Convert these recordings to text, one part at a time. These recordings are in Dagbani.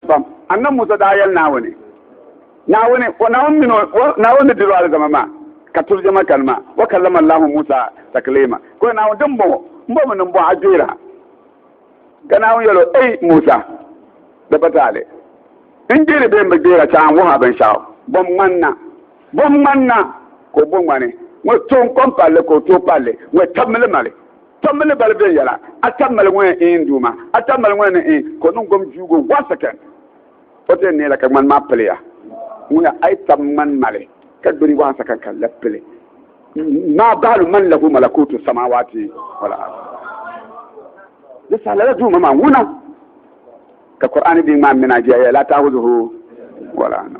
Pam. Annabi Musa daa yɛli Naawuni, Naawuni, o Naawuni mini o, o Naawuni ni diri o alizama maa, ka tubi jama kani maa, wa kallama Allahu Musa takliima, ka o Naawuni, Dimbɔŋɔ, m bɔmi ni m bɔh a gbɛira. Ka Naawuni yɛl o, Ei Musa, di pa taali n gbɛiri bee m bi gbɛira chɛɣa n wuh a binshɛɣu. Bom ŋmani na, bom ŋmani na, ka o bo ŋmani ŋɔ tooi n-kɔŋ palli, ka o tooi palli ŋɔ tabimi li mali. Tom mi ni bali bɛ yɛla a ta mali ŋɔya ee n Duuma, a ta mali ŋɔya ni ee ka o niŋ gom juugo one second. O ti yɛn neela ka ŋmani maa piliya ŋɔya ayi tab ŋmani mali ka gbiri one second ka lab pili maa baali man lahu malakutu samawati wal ard. Di saha lala Duuma maa ŋuna ka Kur'aani din ŋmaa mina jɛya la taahuzuhu wala no.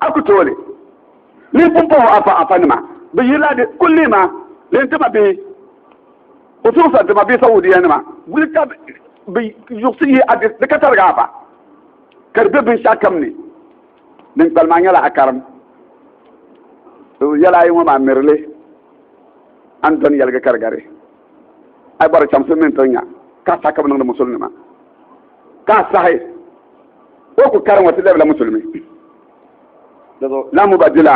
a ku tooli ni pumpɔho afa afa nima bi yirila di kulli ma din tima bihi usuɣusa tima bihi saudiya nima guli ka bi yuɣusi yi a di ka tariga afa ka di bɛ binshaɣu kam ni din kpali maa nyɛla a karim yɛla ayi ŋɔ maa mirili an dɔni yɛligi karigari a bɔri chamsi mini tonya ka sa ka bi niŋdi musulnima ka a sahi o ku kari ŋɔ ti labila musulmi la mubadila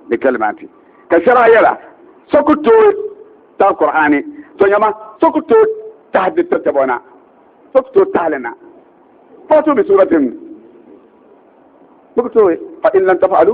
li kalimati ka shɛra yɛla so ku tooi tahi kur'ani to nyama so ku tooi tahi di tatabo na so ku tooi tahili na fatu bi suratin so ku tooi fa in lan tafaalu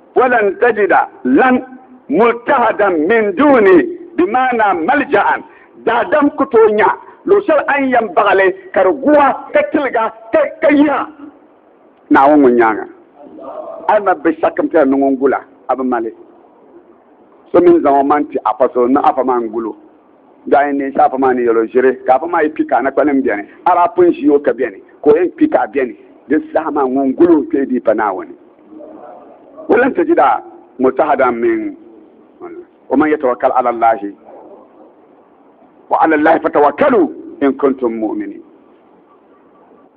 Walan tajida lan multahadan min duni bi maana malja'an daadam ku tooi nya luɣ shɛli a ni yɛn baɣi li ka di gu a ka tiliga ka yiha Naawuni ŋun nyaaŋa a ma bi shak m-piɛla ni ŋun gu la a bi mali so mini zaŋ o maŋ ti apɔstol ni afa maa n-gu lo. Dɔɣi n-neen sa afa maa ni yɛl o ʒiri, ka afa maa yi kpi ka anakpanim beni, a daa pun ʒi o ka beni, ka o yɛn kpi ka a beni. Di saha maa ŋun gul o kpee dii pa Naawuni. O lan sajida mutahadan min o man yatawakal ala Allahi wa ala Allahi fatawakkalu in kuntum mu'minin.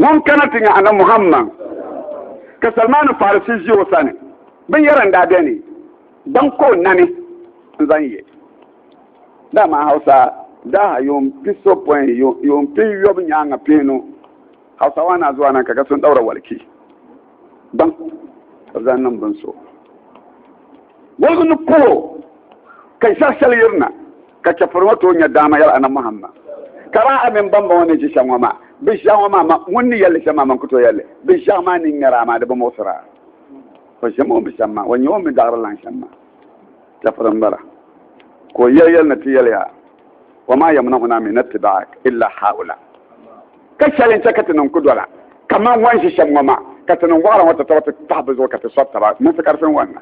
Ŋun kana ti nya Annabi Muhammad, ka Salmaanu Farisi ʒi o sani, binyɛra n-daa beni, gbaŋ ka o nani n-zaŋ ye. Dama Hausa daaha yuun pi so pɔin yuun pin yɔbu nyaaŋa piinu, Hausawa na zuwa na ka ka so n-ɗaura waliki. baŋ ka bɛ zaŋ niŋ bini so. Woligu ni pol o, ka ʒiɛɣu shɛli yirina, ka chɛfuri ŋɔ tooi nya daama yɛli Anabi Muhammad, Ka daa a mini bambaŋ ŋɔ ni ʒi shɛŋ ŋɔ maa, bɛ ʒiɛɣu ŋɔ maa, ma, ŋun ni yɛli li shɛm maa, man ku tooi yɛli li. Bɛ ʒiɛɣu maa ni ŋmɛr a maa di bi muɣisir a. O ʒiɛm o ni bi ʒiɛm maa, o nya o ni bi daɣiri lan shɛm maa, chɛfuri m-bala. Ka o yɛl yɛli ni ti yɛli ya, Wamaa yamna'unaa min ittiba'ik illa ha'ulaa. Ka shɛli n-chɛ ka ti niŋ ku dɔla, kaman ŋɔ n-ʒi shɛm ŋɔ maa, ka ti niŋ wɔɣila ŋɔ ti tɔri ti pahi bɛ zuɣu ka ti sɔri taba mini sikari fin wɔnda.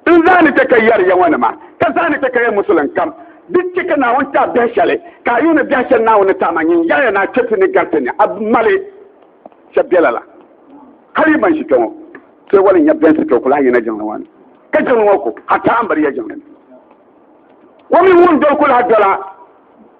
N zaa ni chɛ ka yɛri ya ŋɔ nima, ka zaa ni chɛ ka ya musulim kam, di chɛ ka Naawuni ti a biɛhi shɛli, ka a yuuni biɛhi shɛli Naawuni ni ti a maa nyin yaɣiya ni a chɛ ti ni gari ti ni a mali shɛb biɛla la. Hal yi ban ʒi kpe ŋɔ, ti wali nya biɛnsi ka o ku lahi yina jiŋli ŋɔ ni, ka jiŋli ŋɔ ku, a taambiria jiŋli ni. O mi ŋun doli ku lahi dola.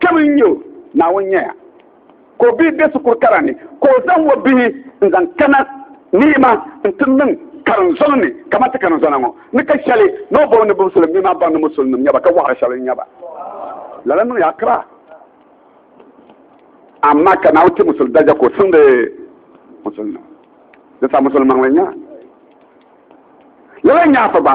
Kpɛm n nyɛ o, Naawuni nyɛya ka o bihi be shikuru kara ni, ka o zaŋ o bihi n zaŋ kana nima n ti niŋ karinzɔŋ ni kaman ti karinzɔna ŋɔ ni ka shɛli ni o bɔŋɔ ni bimsuli n mi maa baŋ ni musulinim nyɛ ba ka wɔɣiri shɛba n-nya ba. Lala niŋya akira, amaa ka Naawuni ti musuli daraja ka o siŋdi musulinim, di sa musulimaŋli n-nya. Lala n-nya afa gba.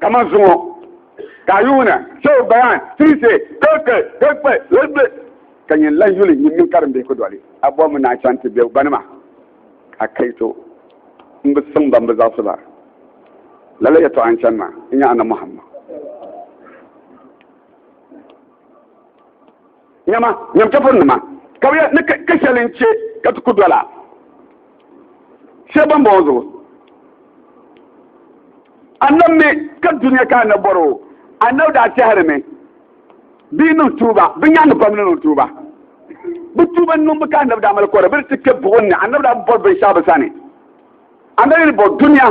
kama zuŋɔ ka a yuuna shehu bayan tirise keke kekpe lebe ka nyɛ lan yuli nyim mini karim bihi ku doli a bɔhimi ni a chaŋ ti be gbanima a kaito n bi siŋ ban bi zaɣisi ba lala yɛtɔɣa n chani ma n nya ana muhammad Nyama, nyam chɛfurinima, ka bɛ yɛli, Ni ka shɛli n-chɛ ka ti ku dɔla shɛli bɔmbɔŋɔ zuɣu? Annabi mi ka dunia ka annabi bɔri o, annabi daa tɛhirimi bɛ yi niŋ tuuba, bɛ nyaaŋa pam ni niŋ tuuba. Bɛ tuuba niŋbu ka annabi daa mali kɔre, bɛ di ti kpe buɣim ni, annabi daa bi bɔri binshɛɣu bɛ sani. Annabi ni bɔri dunia,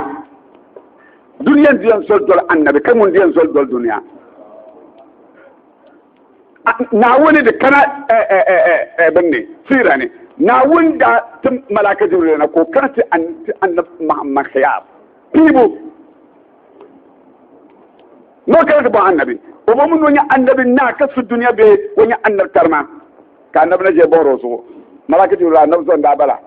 dunia n-di yɛn zoli doli annabi ka ŋun di yɛn zoli doli dunia. naawuni di kana binni siira ni naawuni daa tim malaaka jibril na ka o kana ti annabi muhammad khiyaar piibu n'o kana ti bɔn annabi o bɔmi ni o nya annabi naa ka su duniya bee o nya annabi tarima ka annabi na ʒe bɔhiri o zuɣu malaaka jibril annabi zɔn daa bala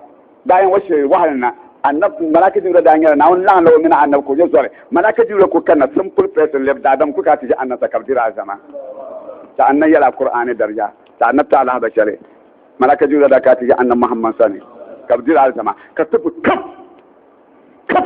Daa yɛn wa shiri waɣinli na, anab Malaki Jibrila daa nyɛla Naawuni laɣinla o mini anab ka o nyɛ zoli. Malaki Jibrila ku kanna simple person lɛbi daadam ku kana ti ʒe anab sa ka bɛ diri alizama. Ti anna yɛla Kur'aani darija ti anab ti alahiba shɛli. Malaka Jibrila daa kana ti ʒe anab Muhammad sani ka bɛ diri alizama ka tibbu kap kap.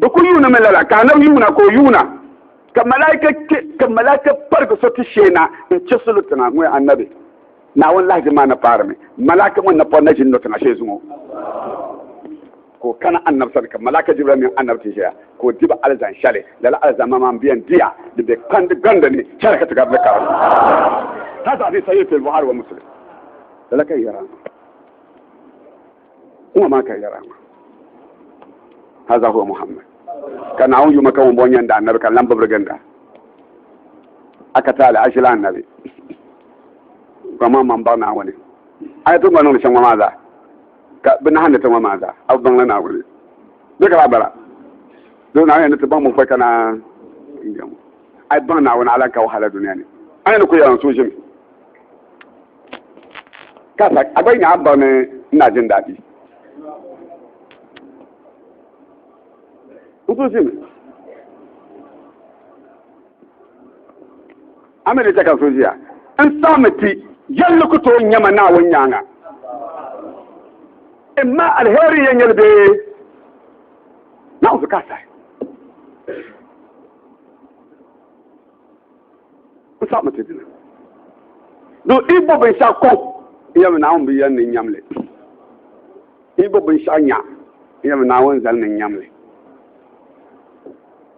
Bɛ kul yuunimi lala ka Anabi yuuna ka o yuuna, ka malaika kpe ka malaika parigi so ti shee na n-chɛ salo tiŋa ŋɔ ya Anabi, Naawuni lahiʒini maa na paarimi, malaika ŋɔ napɔri na ʒini lo tiŋa shee zuŋɔ. Ka o kana Anabi sani ka malaika Jibirɛl mini Anabi ti ʒiya ka o diba alizani shɛli, lala alizama maa m-be yɛn diya di be kpandi gandi ni chana ka ti gari ni karim. Haza fi Sahih fi al-Bukhari wa Muslim. Lala ka yi yɛra. Kuma maa ka yɛra ma. Haza huwa Muhammad. Ka Naawuni yuma ka ŋun bɔŋɔ nyɛnda annabi ka lan bibiri ginda. A ka taali a ʒila annabi. Ka maa man baɣi Naawuni. A ti gba niŋdi shɛŋ ŋɔ maa zaa. Ka bi nahandi ti ŋɔ maa zaa. A bi baŋla Naawuni. Bɛ ka laa bala. Doo Naawuni ni ti baŋ binkpɔi ka naa n jɛmu. A yi baŋ Naawuni a lan ka wahala duniya ni. A ni ku yɛra n suhu ʒimi. ka sa a gba yi nyaɣa baŋ ni n naa jin daadii n kuli zimi a mii di chɛ ka so ʒiya n saami ti yɛlli ku tooi nyɛma naawuni nyaanga n ma alheri yɛn nyɛli bee naawuni ka sahi N saɣimi ti dina. Do i bo binshɛɣu kɔŋ n yɛli mi Naawuni bi yɛn ni nyam li. I bo binshɛɣu nya n yɛli mi Naawuni zali ni nyam li.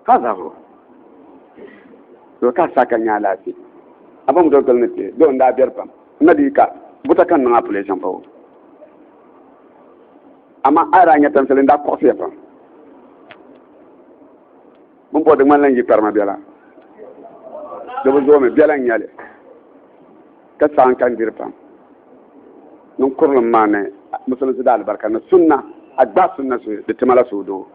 Ka zabiro do ka sa ka nya alaafee. A bom do gili ni ti do n daa beri pam. N na dii ka buta ka n niŋ apuleshin pa o. Amaa a yi daa nya tamsili n daa kɔɣisiya pam. Bin bɔri di ŋmanila n-yi kparima biɛla, di bi zoomi, biɛla n-nyɛ li, ka saɣim ka n diri pam niŋ kurilim maa ni Musulinsi daa alibarika ni sunna, a gbaai sunna so di ti ma la suhudoo.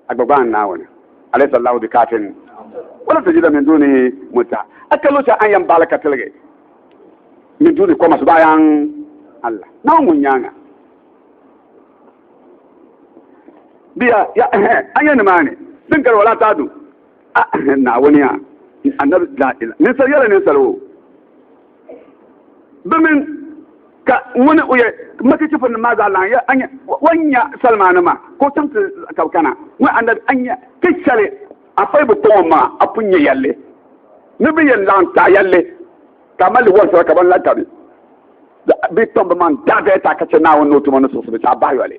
Agbagban Naawuni, Alaysa Allahu bi kaafin wala tajida min dunihi mutta, a ka luɣushɛli a ni yɛn baɣili ka tiligi min duni kɔma su bayan Allah, Naawuni ŋun nyaaŋa bi ya, ya a nya nimaani din gari wala taa du a Naawuni ya, Annabi, la ila, ninsal yɛla ninsal o. bi min ka ŋuni o yɛ maki chifin nim maa zaa lan ya anya wan nya salima nima ka o chaŋ ti ka bi kana ŋun anabi anya ka shɛli a fai bi kɔŋɔ maŋa a pun nyɛ yɛlli ni bi yɛn laɣim taɣi yɛlli ka a mali wɔlisira ka ban la ka bi bi kpam bi maŋ daadaya ta ka chɛ Naawuni ni o tuma ni suɣusibu ti a bahi yɔli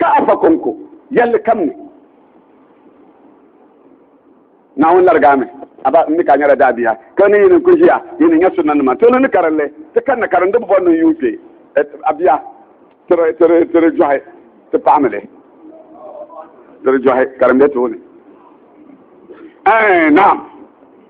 ka a fa kɔŋko yɛlli kam ni naawuni larigami aba n ni ka nyɛla daabiya ka ni yini ku ʒiya yini nyɛ sunna nima tolo ni karinli ti kanna karindi bɔ ni yuun kpɛ abiya tiri jɔhi ti paɣamili tiri jɔhi karimbe tooni naam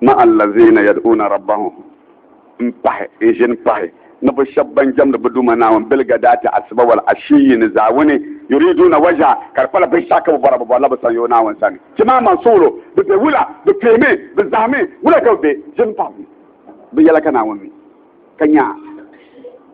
Ma allaziina yad'uuna rabbahum m-pahi, n-ʒini pahi, ni bɛ shɛba ban jɛmdi bɛ Duuma Naawuni bil-ghadaati asiba wal-ashiyyi ni zaawuni, yuriiduuna wajha, ka di kpala binshɛɣu ka bɛ bɔra, bɛ bɔrila bɛ sanyo Naawuni sani. Ti maa man suɣulo, bɛ be wula? Bɛ kpeemi? Bɛ zahimi? Wula ka bɛ be? Ʒini pahi bɛ ni. Bɛ yɛla ka Naawuni mi, ka nya a.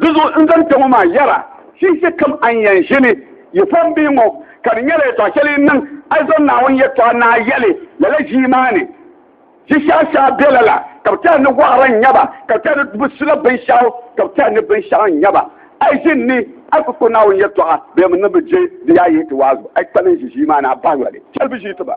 Dizuɣu n zaŋ kpe ŋɔ maa yɛra, Shinshiɛ kam a ni yɛn ʒini yi pɔhim bia ŋɔ, ka di nyɛla yɛtɔɣ shɛli yi niŋ a yi zaŋ Naawuni yɛtɔɣa naai yɛli lala ʒii maa ni. Ʒi shɛha shɛha be lala, ka bɛ tɛha ni wɔɣira n-nyɛ ba, ka bɛ tɛha ni bɛ sula binshɛɣu, ka bɛ tɛha ni binshɛɣu n-nyɛ ba. A yi ʒini ni a yi ku kpe Naawuni yɛtɔɣa bee mi ni bɛ je di yaa yihi ti waazu, a yi kpani n-ʒi ʒii maa ni a bahi yoli shɛli bɛ ʒii ti ba.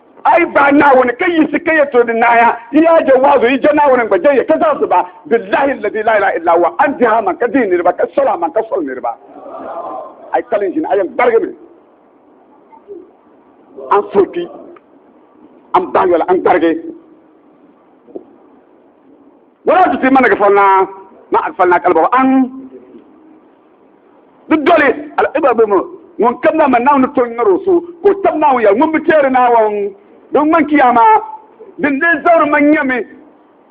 A yi gbaai Naawuni ka yiɣisi ka yɛl tɔrdi naaya, yi yaa je waazu, yi je Naawuni n-gba je ya, ka zaɣisi ba, Billahi alladhi laa ilaha illa huwa, a ni dihi a maŋ ka dihi niriba, ka soli a maŋ ka soli niriba. A yi kali n-ʒini, a yɛn gbarigimi. A ni suhi kpi, a ni bahi yoli, a ni gbarigi. Wala tuti ma ni ghafalnaa, ma a ghafalnaa ka alibɔɣu a ni. Di doli al-Ibrahim ŋun kam na man Naawuni tɔn nyɔri o so ka o tab Naawuni yɛli ŋun bi teeri naawɔŋ din ŋman Kiyaama. Dindee zabiri ma nyɛmi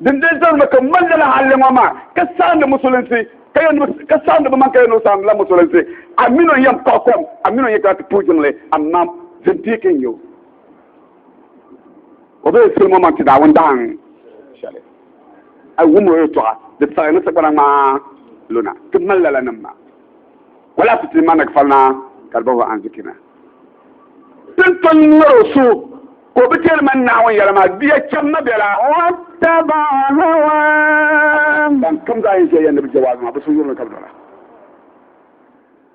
dindee zabiri ma ka m mali lala halli ŋɔ maa ka saɣindi musulinsi ka yɛn ka saɣindi bi man ka yɛn o saɣindila musulinsi a mini o yɛn paɣa kom a mini o yɛn kana ti puhi jiŋli amaa zindiiki n-nyɛ o o bee sili mo man ti Naawuni dahin shɛli. a wum o yɛtɔɣa di tɛɣi ni sagbana ŋmaa luna ti mali lala nim maa wala ti ti manag falina ka di bahi anzikina tin ton ŋmɛr o so ka o bi tɛri man naawun yɛla maa biya chɛm ma bɛla ban kam zaa yɛn ʒɛya ni bi jawaabi maa bi so yurimi ka bi dɔla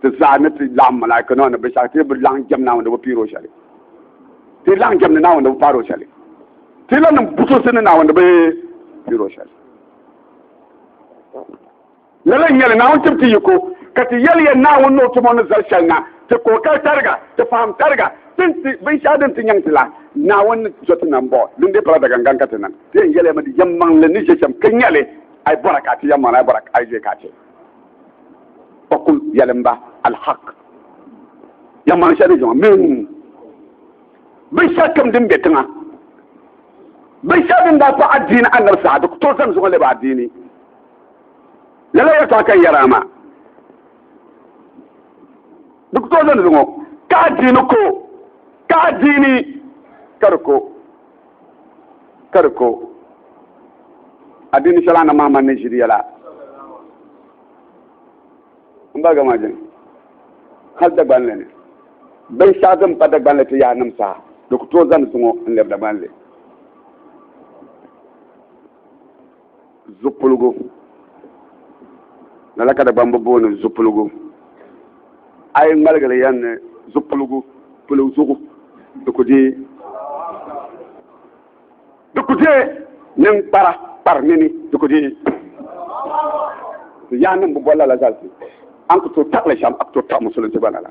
Ti zaa ni ti laɣim malaika nima ni binshɛɣu ti bi laɣim jɛm Naawuni ni bi piiri o shɛli. Ti laɣim jɛm ni Naawuni ni bi paari o shɛli. Ti la niŋ butunsi ni Naawuni ni bi piiri o shɛli. Lala n-nyɛli Naawuni tib ti yiko, ka ti yɛli ya Naawuni ni o tum o ni zali shɛli na, ti kookali tariga, ti fahim tariga, tin ti binshɛɣu din ti nyaŋ ti la, Naawuni ni zo ti nam bɔ, dindee pala dagangan ka ti nam. Ti yɛn yɛli ya mi di yɛnmaŋli ni ʒe shɛm, ka nyɛli, A yi bɔra ka a ti yɛnmaŋli, a yi bɔra a yi ʒe ka a ti. ɔkum yɛlimba alhaq ya ŋmaŋ shɛli zuɣu min binshɛli kam din bɛ tiŋa binshɛli din daa pa adiini anabi saadu to zani zuɣu lɛbi adiini lala yɛtɔɣa ka yɛra maa di ku to zani zuɣu ka adiini ko ka adiini ka di ko ka di ko adini shɛli Annabi Muhammad ni ʒiri yɛla n ba gama jin hali Dagbanli ni binshɛɣu din pa Dagbanli ti yaha nim saha di ku tooi zani zuŋɔ n lɛbi Dagbanli zupiligu lala ka Dagbamba booni zupiligu a yi ŋmaligi li yɛn ni zupiligu pili zuɣu di ku deei di ku deei ninkpara kpari nini di ku deei yaha niŋ bi boli lala zalisi an ku tooi taɣali shɛm a ku tooi taɣi musulunsi gba lala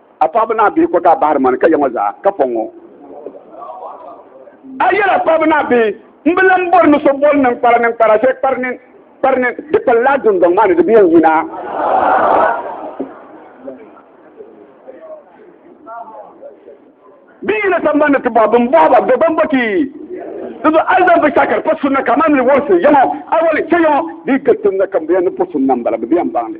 A paɣaba ni a bihi ko ka a bahiri mani ka ya ŋɔ zaa ka pɔŋ ŋɔ. A yɛli a paɣaba ni a bihi, M bi lan bɔri ni so boli ninkpara ninkpara shɛli kpari nini kpari nini, di kpali laa dundɔŋ maa ni di bi yɛn yina. Bɛ yina samban ni ti bɔhi bɛn bɔhi ba, Dɔgbam bɔ ti yi? Di zuɣu a yi zaŋ binshɛɣu ka di pa sunna ka a maani li wɔrisi ya ŋɔ, awali, chɛ ya ŋɔ, di yi gari sunna kam di yɛn ni po sunna m-bala, bɛ bi yɛn baŋ li.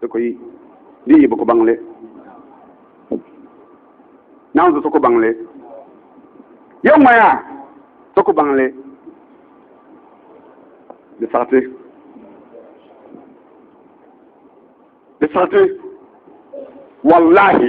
Di ko yi, di yi bi ku baŋ li. Naawuni so ku baŋ li. Yo ŋmaya so ku baŋ li. Di saɣiti. Di saɣiti. Wallahi.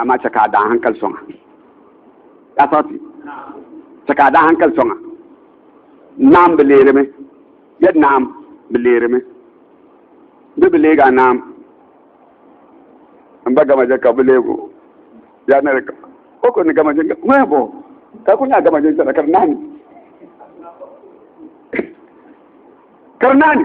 amaa chɛ ka a daa hankali sɔŋ a. Yaa sarati, chɛ ka a daa hankali sɔŋ a. Naam bi leerimi, yɛli naam bi leerimi. Bɛ bi leeg a naam. N ba Gamaje ka bɛ leeg o. Yaa nari ka o kuli ni Gamaje n-gari ŋuna bɔ, ka kuli nyaai Gamaje n-chana ka di naani. Ka di naani.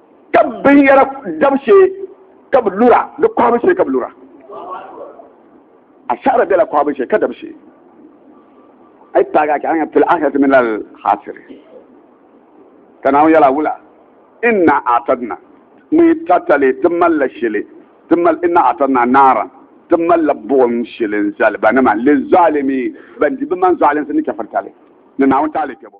ka binyɛra dab shee ka bi lura di kɔhibu shee ka bi lura asara bela kɔhibu shee ka dab shee ay paagi a chaŋa fil ahirati min al hasiri ka naawuni yɛla wula inna atadna mi tatali ti mali la shili ti mali inna atadna naara ti mali la buɣum shili n zali ba nima li zalimi ban di bi man zalinsi ni kafirtali ni naawuni taali kpɛbo